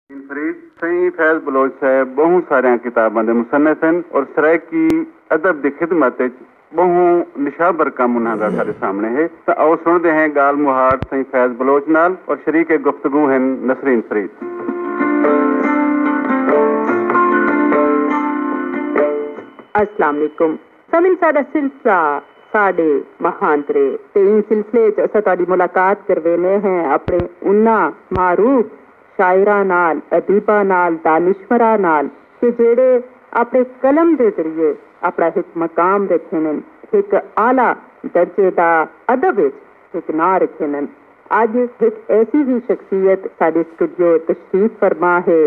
انفرید، سئیں فیض بلوچ صاحب ٻہوں ساریاں کتاباں دے مصنف ہن اور سرائیکی ادب دی خدمت اچ ٻہوں نشابر کم انہاں دا ساݙے سامݨے ہے تاں آؤ سݨدے ہیں ڳالھ مہاڑ سئیں فیض بلوچ نال اور شریک گفتگو ہن نسرین فرید۔ السلام علیکم سمن ساڈا سلسلہ ساڈے مہانترے تے ایں سلسلے اچ اساں تہاڈی ملاقات کرویندے ہیں اپنے انہاں معروف شاعراں نال، ادیباں نال، دانشوراں نال کہ جیہڑے اپنے قلم دے ذریعے اپنا ہک مقام رکھیندن، ہک اعلی درجے دا ادب اچ ہک ناں رکھیندن۔ اج ہک ایسی ہی شخصیت ساڈے سٹوڈیو تشریف فرما ہے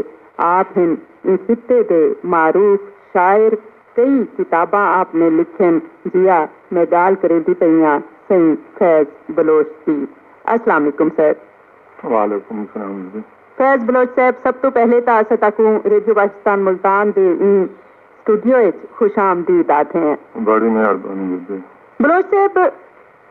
آپ ہن ایں خطے دے معروف شاعر، کئی کتاباں آپ نے لکھین جیا میں گال کریندی پئیاں سئیں فیض بلوچ دی۔ السلام علیکم سر۔ وعلیکم السلام جی۔ فیض بلوچ صاحب سب توں پہلے تاں اساں تاکوں ریڈیو پاکستان ملتان دے ایں سٹوڈیو اچ خوش آمدید آدھے ہیں۔ بڑی مہربانی بیبی۔ بلوچ صاحب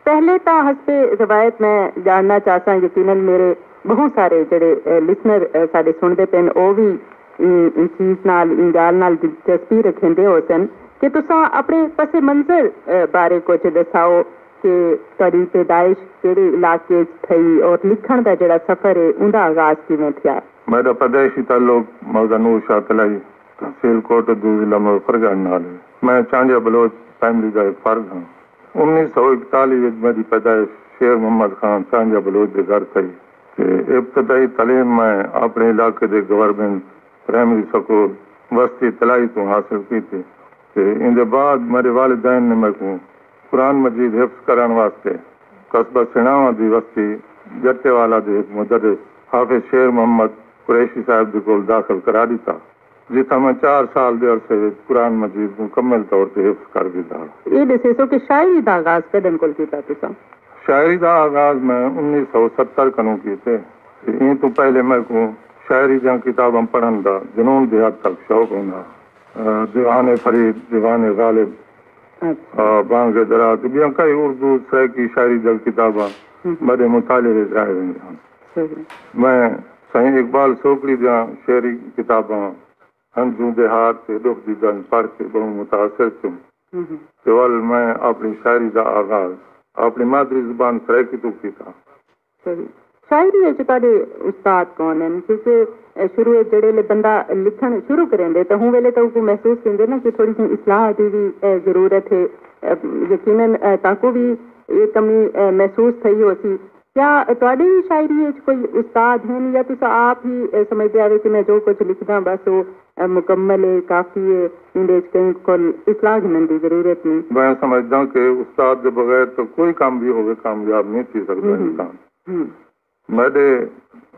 پہلے تاں حسب روایت میں ڄاݨنا چاہساں یقینا میݙے ٻہوں سارے جیڑھے لسنر ساݙے سݨدے پئن او وی ایں چیز نال ایں ڳالھ نال دلچسپی رکھیندے ہوسن کہ تساں اپݨے پس منظر بارے کجھ ݙساؤ کہ تہاݙی پیدائش کیڑھے علاقے اچ تھئی اور لکھݨ دا جیڑھا سفر ہے اوندا آغاز کیویں تھیا۔ میݙا پیدائشی تعلق مولوی نور شاہ قلعی، تحصیل کوٹ ادو، ضلع مظفر گڑھ نال ہے۔ میں چانگیہ بلوچ فیملی دا ہک فرد ہاں۔ انیس سو اکتالی وچ میڈی پیدائش شیر محمد خان سانجہ بلوچ دے گھر تھئی تے ابتدائی تعلیم میں اپنڑے علاقے دے گورنمنٹ پرائمری سکول وستی تلائی توں حاصل کیتی تے ایندے بعد میڈے والدین نے میکوں قرآن مجید حفظ کرنڑ واسطے قصبہ سنڑاواں دی وستی جٹے والا دے ہک مدرس حافظ شیر محمد قریشی صاحب دے کول داخل کرا ڈتا۔ جتھاں میں چار سال دے عرصے وچ قرآن مجید مکمل طور تے حفظ کر گھدا ہا۔ ایہ ݙسیسو کہ شاعری دا آغاز کݙݨ کول کیتا تساں؟ شاعری دا آغاز میں انیس سو ستر کنوں کیتے تے ایں توں پہلے میکوں شاعری دیاں کتاباں پڑھݨ دا جنون دی حد تک شوق ہوندا ہا۔ دیوان فرید، دیوان غالب، بانگ درا تے ٻیاں کئی اردو سرائیکی شاعری دیاں کتاباں میݙے مطالعے وچ رہ ویندیاں ہن۔ میں سائیں اقبال سوکڑی دیاں شعری کتاباں ہنجوں دے ہار تے ڈکھ دی گنج پڑھ کے بہوں متاثر تھیوم تے ول میں اپنی شاعری دا آغاز اپنی مادری زبان سرائیکی توں کیتا۔ شاعری اچ تہاڈے استاد کون ہن؟ کیونکہ شروع اچ جیڑھے ویلے بندہ لکھن شروع کریندے تاں ہوں ویلے تاں اوکوں محسوس تھیندے نا کہ تھوڑی جئیں اصلاح دی وی ضرورت ہے یقینا تہاکوں وی ایہ کمی محسوس تھئی ہوسی کیا تہاݙے وی شاعری اچ کوئی استاد ہن یا تساں آپ ہی اے سمجھدے ہاوے کہ میں جو کجھ لکھداں بس او مکمل اے، کافی اے، ایندے اچ کہیں کل اصلاح گھنݨ دی ضرورت نی؟ میں سمجھداں کہ استاد دے بغیر تاں کوئی کم وی ہووے کامیاب نی تھی سڳدا انسان۔ میݙے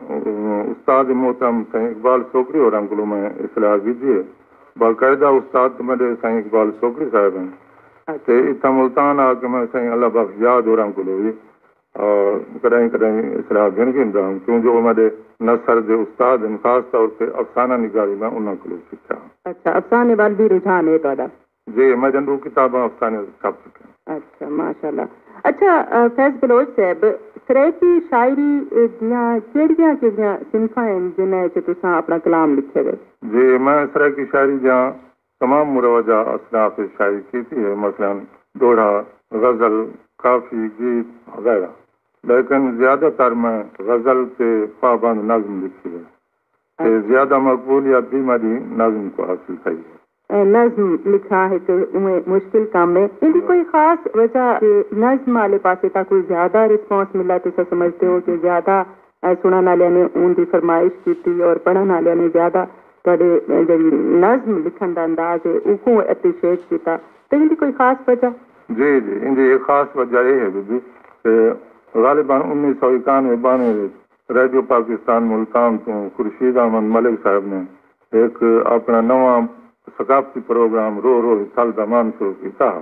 استاد محترم سئیں اقبال سوکڑی ہوراں کولوں میں اصلاح گھدی اے۔ باقاعدہ استاد تاں میݙے سئیں اقبال سوکڑی صاحب ہن تے اتھاں ملتان آ کے میں سئیں اللہ بخش یاد ہوراں کولوں وی کݙاہیں کݙاہیں اصلاح گھن گھندا ہم کیوں جو او میݙے نثر دے استاد ہن خاص طور تے افسانہ نگاری میں انہاں کولوں سکھیا ہا۔ اچھا افسانے ول وی رجحان ہے تہاݙا؟ جی میݙیاں ݙو کتاباں افسانے تے چھپ چکیاں ہن۔ اچھا ماشاء اللہ اچھا فیض بلوچ صاحب سرائیکی شاعری دیاں کیڑھیاں کیڑھیاں صنفاں ہن جنہاں اچ تساں اپݨا کلام لکھیے دے؟ جی میں سرائیکی شاعری دیاں تمام مروجہ اصناف اچ شائع کیتی ہے مثلا ݙوہڑا، غزل، کافی، گیت وغیرہ لیکن زیادہ تر میں غزل تے پابند نظم لکھی ہے تے زیادہ مقبولیت دی مڈی نظم کوں حاصل تھئی ہے۔ نظم لکھݨ ہک اونویں مشکل کم ہے ایندی کوئی خاص وجہ جے نظم آلے پاسے تاں کوئی زیادہ رسپانس ملا تساں سمجھدے ہو کہ زیادہ اے سنڑن آلیاں نے اون دی فرمائش کیتی اور پڑھن آلیاں نے زیادہ تہاڈے جیڑھی نظم لکھن دا انداز ہے اوکوں ایپریشیٹ کیتا تے ایندی کوئی خاص وجہ؟ جی جی ایندی ہک خاص وجہ اے ہے بی بی کہ غالبا انیس سو اکانوے بانوے وچ ریڈیو پاکستان ملتان توں خورشید احمد ملک صاحب نے ہک اپنڑاں نواں ثقافتی پروگرام روح روح وی تھل دامان شروع کیتا ہا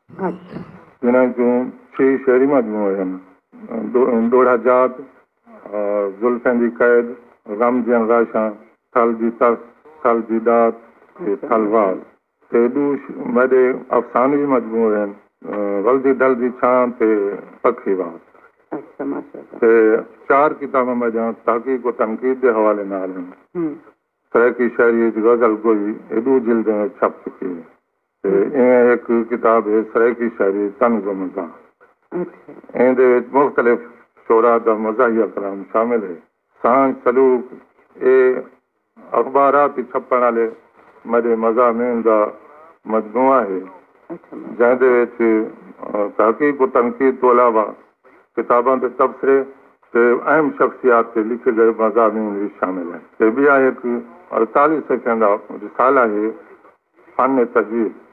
جنہاں اچوں چھی شعری مجموعے ہن، ڈوہڑا جات، زلفیں دی قید، غم دیاں غاشاں، تھل دی تس، تھل دی ڈات تے تھل وال۔ تے ڈو میڈے افسانوی مجموعے ہن، ولدی ڈل دی چھاں تے پکھی وات۔ تے چار کتاباں میڈیاں تحقیق و تنقید دے حوالے نال ہن۔ سرائیکی شاعری اچ غزل گوئی اے ڈو جلدیں وچ چھپ چکی ہے۔ ایویں ہک کتاب ہے سرائیکی شاعری تن گمز داں۔ ایندے وچ مختلف شعراء دا مزاحیہ کلام شامل ہے۔ سانجھ سلوک اے اخباراں تے چھپݨ آلے میݙے مضامین دا مجموعہ ہے جیندے وچ تحقیق و تنقید توں علاوہ کتاباں دے تبصرے تے اہم شخصیات تے لکھے ڳئے مضامین وی شامل ہن۔ تے ٻیا ہک اڑتالیہہ صفحیاں دا رسالہ ہے۔ فن تجوید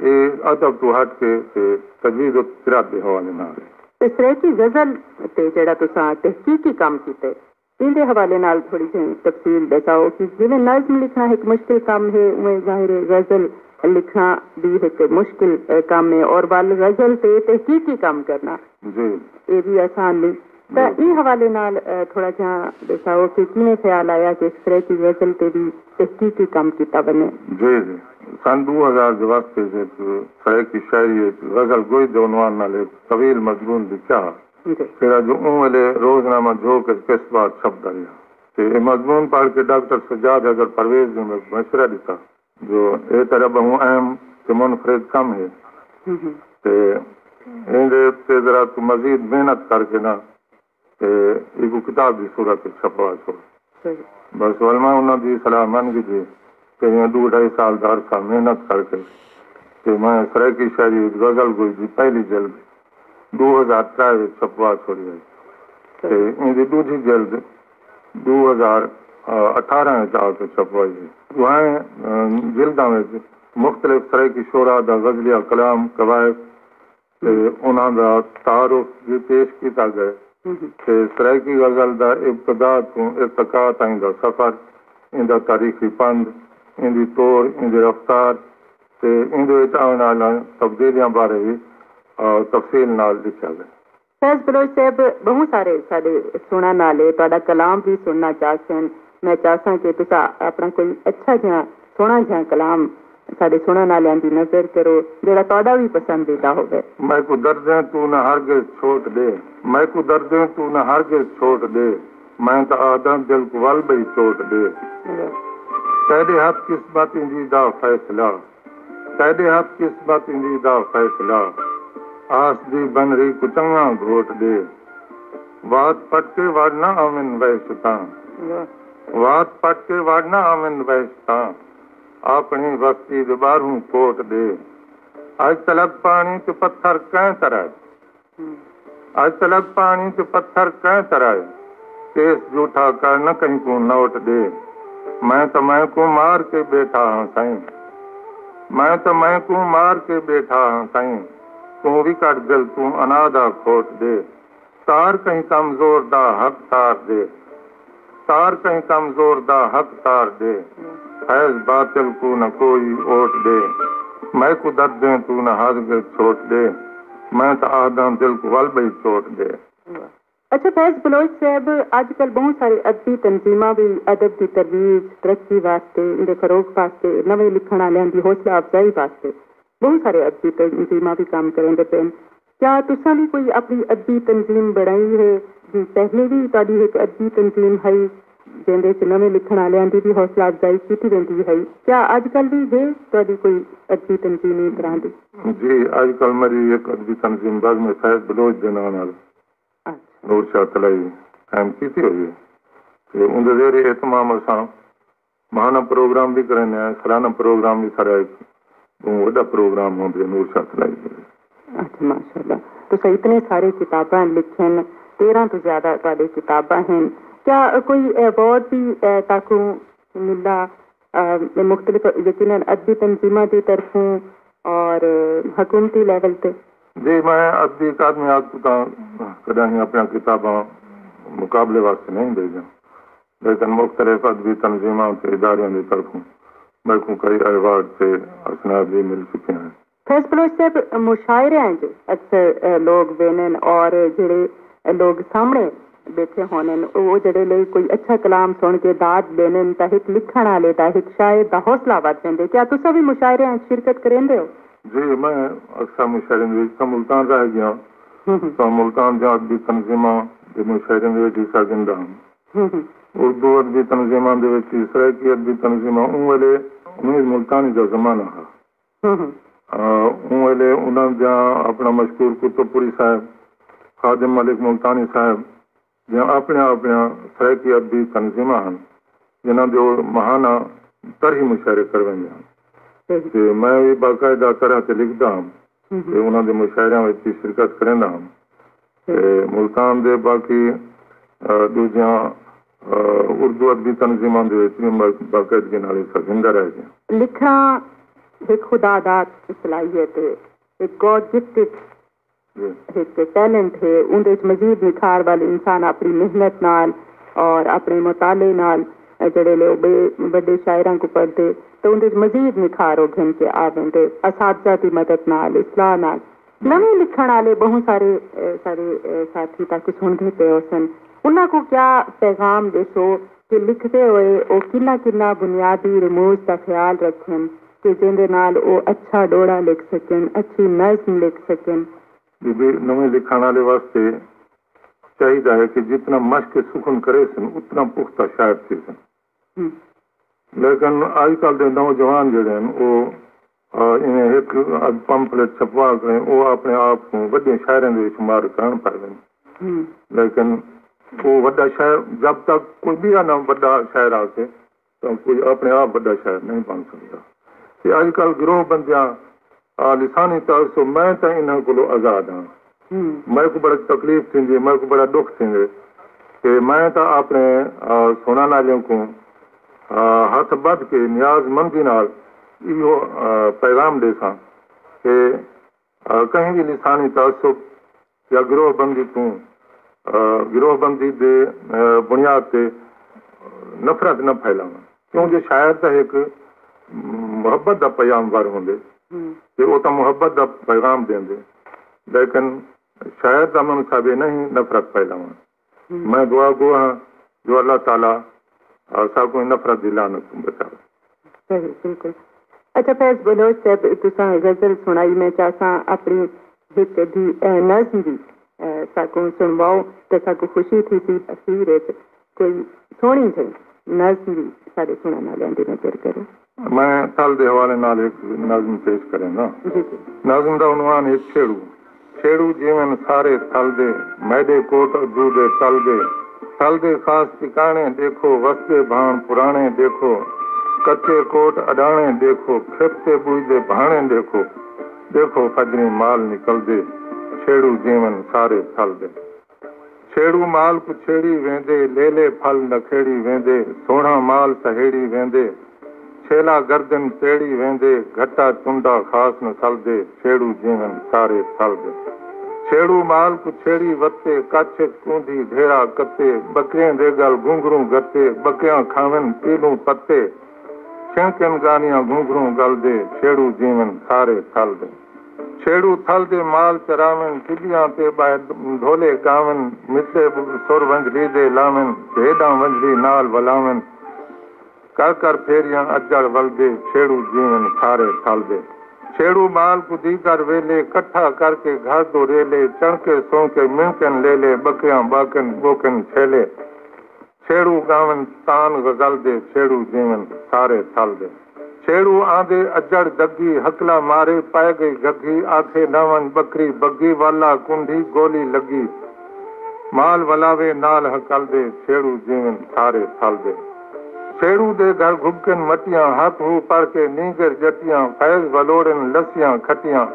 اے ادب توں ہٹ کے تے تجوید و قرات دے حوالے نال اے۔ تے سرائیکی غزل تے جیڑھا تساں تحقیقی کم کیتے ایندے حوالے نال تھوڑی جھیں تفصیل ڈیساؤ کہ جیویں نظم لکھݨا ہک مشکل کم ہے اونویں ظاہر ہے غزل لکھݨا وی ہک مشکل کم ہے اور ول غزل تے تحقیقی کم کرݨا جی اے وی آسان نئیں۔ تاں ایں حوالے نال تھوڑا جیہاں ڈساؤ کہ کیویں خیال آیا کہ اس طرح دی غزل تے وی تحقیقی کم کیتا ونجے؟ جی جی۔ سن ڈو ہزار دے وسط اچ ہک سرائیکی شاعری اچ غزل گوئی دے عنوان نال ہک طویل مضمون لکھیا ہا جیہڑا جو اوں ویلے روزنامہ جھوک اچ قسط وار چھپدا ریہا تے ایہ مضمون پڑھ کے ڈاکٹر سجاد حیدر پرویز دی میں مشورہ ڈتا۔ جو اے تیڈا بہوں اہم تے منفرد کم ہے تے ایندے اتے ذرا توں مزید محنت کر کے نا تے ایکوں کتاب دی صورت اچ چھپوا چھوڑ۔ بس علماء انہاں دی صلاح من گھدی تے ایہاں ڈو ڈھائی سال دا عرصہ محنت کر کے تے میں سرائیکی شاعری اچ غزل گوئی دی پہلی جلد ݙو ہزار ترے وچ چھپوا چھوڑی ہئی تے ایندی ݙوجھی جلد ݙو ہزار اٹھارہ وچ آ کے چھپوائی ہئی۔ ݙوہیں جلداں وچ مختلف سرائیکی شعراء دا غزلیہ کلام، قوائد تے انہاں دا تعارف وی پیش کیتا ڳئے تے سرائیکی غزل دا ابتدا توں ارتقا تائیں دا سفر، ایندا تاریخی پندھ، ایندی توڑ، ایندی رفتار، تے ایندے وچ آوݨ آلیاں تبدیلیاں بارے وی تفصیل نال لکھیا ڳئے۔ فیض بلوچ صیب ٻہوں سارے ساݙے سݨݨ آلے تہاݙا کلام وی سݨݨا چاہسن۔ میں چاہساں کہ تساں آپݨا کوئی اچھا جیہاں سوہݨا جیہاں کلام ساݙے سݨݨ آلیاں دی نذر کرو جیہڑا تہاݙا وی پسندیدہ ہووے۔ میکوں دردیں توں نہ ہرگز چھوٹ ݙے۔ میکوں دردیں توں نہ ہرگز چھوٹ ݙے۔ میں تاں آہداں دل کوں ول بئی چوٹ ڈے تیڈے ہتھ قسمت ایندی دا فیصلہ تیڈے ہتھ قسمت ایندی دا فیصلہ آس دی بنری کوں چنگاں گھوٹ ڈے وات پٹ کے وڑ نہ آون وحشتاں وات پٹ کے وڑ نہ آون وحشتاں آپنڑی وستی دے باہروں کوٹ ڈے اج تلگ پانڑی تے پتھر کئیں ترے اج تلک پانڑی تے پتھر کئیں ترائے تے اس جھوٹھا کر نہ کہیں کوں نوٹ ڈے میں تاں میں کوں مار کے بیٹھا ہاں سائیں میں تاں میں کوں مار کے بیٹھا ہاں سائیں توں وی کڈھ دل توں انا دا کھوٹ ڈے تار کہیں کم زور دا حق تار ڈے تار کہیں کمزور دا حق تار ݙے فیض باطل کوں نہ کوئی اوٹ ݙے میکوں دردیں توں نہ ہس ڳئے چھوٹ ݙے میں تاں آہداں دل کوں ول ٻئی چوٹ ݙے۔ اچھا فیض بلوچ صیب اج کل بہوں سارے ادبی تنظیماں وی ادب دی ترویج ترقی واسطے ایندے فروغ واسطے نویں لکھݨ آلیاں دی حوصلہ افزائی واسطے بہوں سارے ادبی تنظیماں وی کم کریندے پئن کیا تساں وی کوئی اپݨی ادبی تنظیم بݨائی ہے؟ جی پہلے وی تہاݙی ہک ادبی تنظیم ہئی جیندے اچ نویں لکھݨ آلیاں دی وی حوصلہ افزائی کیتی ویندی ہئی، کیا اڄ کل وی ہے تہاݙی کوئی ادبی تنظیم ایں طرح دی؟ جی اڄ کل میݙی ہک ادبی تنظیم بزم فیض بلوچ دے ناں نال نور شاہ طلائی قائم کیتی ہوئی ہے تے اوندے زیر اہتمام اساں ماہانہ پروگرام وی کریندے ہیں، سالانہ پروگرام وی سارا ہک ٻہوں وݙا پروگرام ہوں جیڑھا نور شاہ چلائی دے ہیں۔ اچھا ماشاء اللہ تساں اتنے سارے کتاباں لکھین تیرھاں توں زیادہ تہاݙے کتاباں ہن کیا کوئی ایوارڈ وی تہاکوں ملا مختلف یقینا ادبی تنظیماں دی طرفوں اور حکومتی لیول تے؟ جی میں ادبی اکادمی آکھ توں تاں کݙاہیں اپݨیاں کتاباں مقابلے واسطے نئیں بھیجیاں لیکن مختلف ادبی تنظیماں تے اداریاں دی طرفوں میکوں کئی ایوارڈ تے اسناد وی مل چکے ہن۔ فیض بلوچ صاحب مشاعریاں اچ اکثر لوگ ویندن اور جیڑھے لوگ سامنڑے بیٹھے ہوندن او جیڑھے لئی کوئی اچھا کلام سنڑ کے داد ڈیندن تاں ہک لکھنڑ آلے دا ہک شاعر دا حوصلہ ودھ ویندے کیا تساں وی مشاعریاں اچ شرکت کریندے او؟ جی میں اکثر مشاعریاں دے وچ تاں ملتان رہ گیاں تاں ملتان دیاں ادبی تنظیماں دے مشاعریاں دے وچ حصہ گھندا ہاں۔ اردو ادبی تنظیماں دے وچ وی سرائیکی ادبی تنظیماں اوں ویلے انیس ملتانی دا زمانہ ہا۔ اوں ویلے انہاں دیاں اپݨا مشکور کتب پوری صاحب، خادم ملک ملتانی صاحب دیاں اپݨیاں اپݨیاں سرائیکی ادبی تنظیماں ہن جنہاں دے او ماہانہ طرحی مشاعرے کرویندے ہن تے میں وی باقاعدہ طرح تے لکھدا ہم تے انہاں دے مشاعریاں وچ وی شرکت کریندا ہم۔ تے ملتان دے باقی ڈوجھیاں اردو ادبی تنظیماں دے وچ وی باقاعدگی نال حصہ گھندہ رہ گیاں۔ لکھݨا ہک خدا دات صلاحیت ہے، ہک گاڈ گفٹڈ ہک ٹیلنٹ ہے، اوندے وچ مزید نکھار ول انسان اپݨی محنت نال اور اپݨے مطالعے نال جیڑھے لے او ٻئے وݙے شاعراں کوں پڑھدے تاں اوندے وچ مزید نکھار او گھن کے آویندے، اساتذہ دی مدد نال، اصلاح نال۔ نویں لکھنڑ آلے بہوں سارے سارے ساتھی تاکوں سنڑدے پئے ہوسن انہاں کوں کیا پیغام ڈیسو کہ لکھدے ہوئے او کنہاں کنہاں بنیادی رموز دا خیال رکھن کہ جیندے نال او اچھا ڈوہڑا لکھ سکن اچھی نظم لکھ سکن۔ ڈوجھے نویں لکھنڑ آلے واسطے چاہیدا ہے کہ جتنا مشق سخن کریسن اتنا پختہ شاعر تھیسن لیکن اج کل دے نوجوان جیڑھے ہن او ایویں ہک ادھ پمفلٹ چھپوا کے او اپنے آپ کوں وڈے شاعراں دے شمار کرن پئیون لیکن او وڈا شاعر جب تک کوئی بیا نہ وڈا شاعر آکھے تاں کوئی اپنے آپ وڈا شاعر نہیں بن سگدا۔ تے اج کل گروہ بندیاں آ لسانی طاہر سو میں تاں انہاں کولو آزاد ہاں۔ میکوں بڑک تکلیف تھیندی ہے، میکوں بڑا ڈکھ تھیندے کہ میں تاں آپنے سنڑن آلیاں کوں ہتھ بدھ کے نیاز مندی نال ایہو پیغام ڈیساں کہ کہیں وی لسانی تعصب، یا گروہ بندی توں گروہ بندی دے بنیاد تے نفرت نہ پھیلاون کیوں جو شاعر تاں ہک محبت دا پیام ور ہوندے تے او تاں محبت دا پیغام ڈیندے لیکن شاعر دا منصب اے نہیں نفرت پھیلاون۔ میں دعا گو ہاں جو اللہ تعالی اساکوں ایں نفرت دی لعنت توں بچاوے۔ صحیح بالکل اچھا فیض بلوچ صاحب تساں غزل سنڑائی میں چاہساں اپنی ہک ادھی نظم وی ساکوں سنڑواؤ تے ساکوں خوشی تھیسی اخیر اچ کوئی سوہنڑی جھئی نظم وی ساڈے سنڑن آلیاں دی نظر کرو۔ میں تھل دے حوالے نال ہک نظم پیش کرینداں۔ نظم دا عنوان ہے چھیڑو۔ چھیڑو جیون سارے تھل دے، میڈے کوٹ اجو دے تل دے۔ تھل دے خاص ٹکانے ڈیکھو، وسدے بھان پرانے ڈیکھو۔ کچے کوٹ اڈانے ڈیکھو، کھپ تے بوئی دے بھانے ڈیکھو۔ ڈیکھو فجریں مال نکلدے، چھیڑو جیون سارے تھل دے۔ چھیڑو مال کوں چھیڑی ویندے لیلے پھل نکھیڑی ویندے سوہݨا مال سہیڑی ویندے چھیلا گردن تیڑی ویندے گھٹا چنڈا خاص نہ سلدے چھیڑو جیون سارے پھل دے چھیڑو مال کوں چھیڑی وتے کچھ اچ کوندھی ڈھیرا کتے بکریاں دے گل گھنگھروں گھتے بکریاں کھاون پیلوں پتے چھنکن گانیاں گھنگھروں گل دے چھیڑو جیون سارے پھل دے۔ چھیڑو تھل دے مال چراون، ٹبیاں تے ٻہہ ڈھولے ڳاون، مٹھے سر ونجھلی دے لاون، بھیݙاں ونجھلی نال ولاون، کر کر پھیریاں اجڑ ولدے، چھیڑو جیون سارے تھل دے۔ چھیڑو مال کوں دیگر ویلے، کٹھا کر کے گھر دو ریلے، چݨکے سونکے منکن لیلے، ٻکیاں ٻاکن ٻوکن چھیلے، چھیڑو ڳاون تان غزل دے چھیڑو جیون سارے تھل دے چھیڑو آندے اجڑ دگھی ہکلا مارے پئے گئی گگھی آکھے نہ ونج بکری بگھی ول آ کنڈھی گولی لگھی مال ولاوے نال ہکل دے چھیڑو جیون سارے تھل دے چھیڑو دے گھر گھبکن مٹیاں ہک ہو پڑھ کے نینگر ڄٹیاں فیض ولوڑن لسیاں کھٹیاں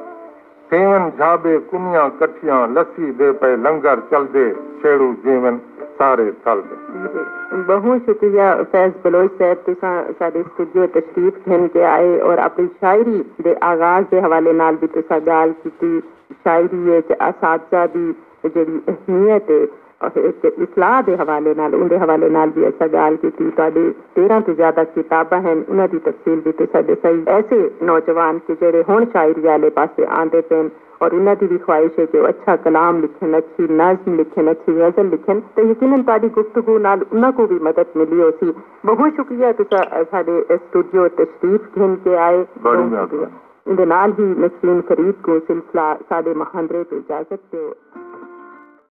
کیون جھابے کنیاں کٹھیاں لسی دے پئے لنگر چلدے چھیڑو جیون سارے تھل دے۔ بہوں شکریہ فیض بلوچ صاحب تساں ساڈے اسٹوڈیو تشریف گھن کے آئے اور اپنی شاعری دے آغاز دے حوالے نال وی تساں گالھ کیتی شاعری اچ اساتذہ دی جیڑھی اہمیت اے۔ اصلاح دے حوالے نال اوندے حوالے نال وی اساں ڳالھ کیتی، تہاݙے تیرھاں توں زیادہ کتاباں ہن انہاں دی تفصیل وی تساں ݙسائی، ایسے نوجوان کہ جیڑھے ہݨ شاعری آلے پاسے آندے پئن اور انہاں دی وی خواہش ہے کہ او اچھا کلام لکھن، اچھی نظم لکھن، اچھی غزل لکھن تاں یقینا تہاݙی گفتگو نال انہاں کوں وی مدد ملی ہوسی، بہوں شکریہ تساں ساݙے سٹوڈیو تشریف گھن کے آئے، بہوں شکریہ، ایندے نال ہی نسرین فرید کوں سلسلہ ساݙے مہاندرے توں اجازت ݙیو۔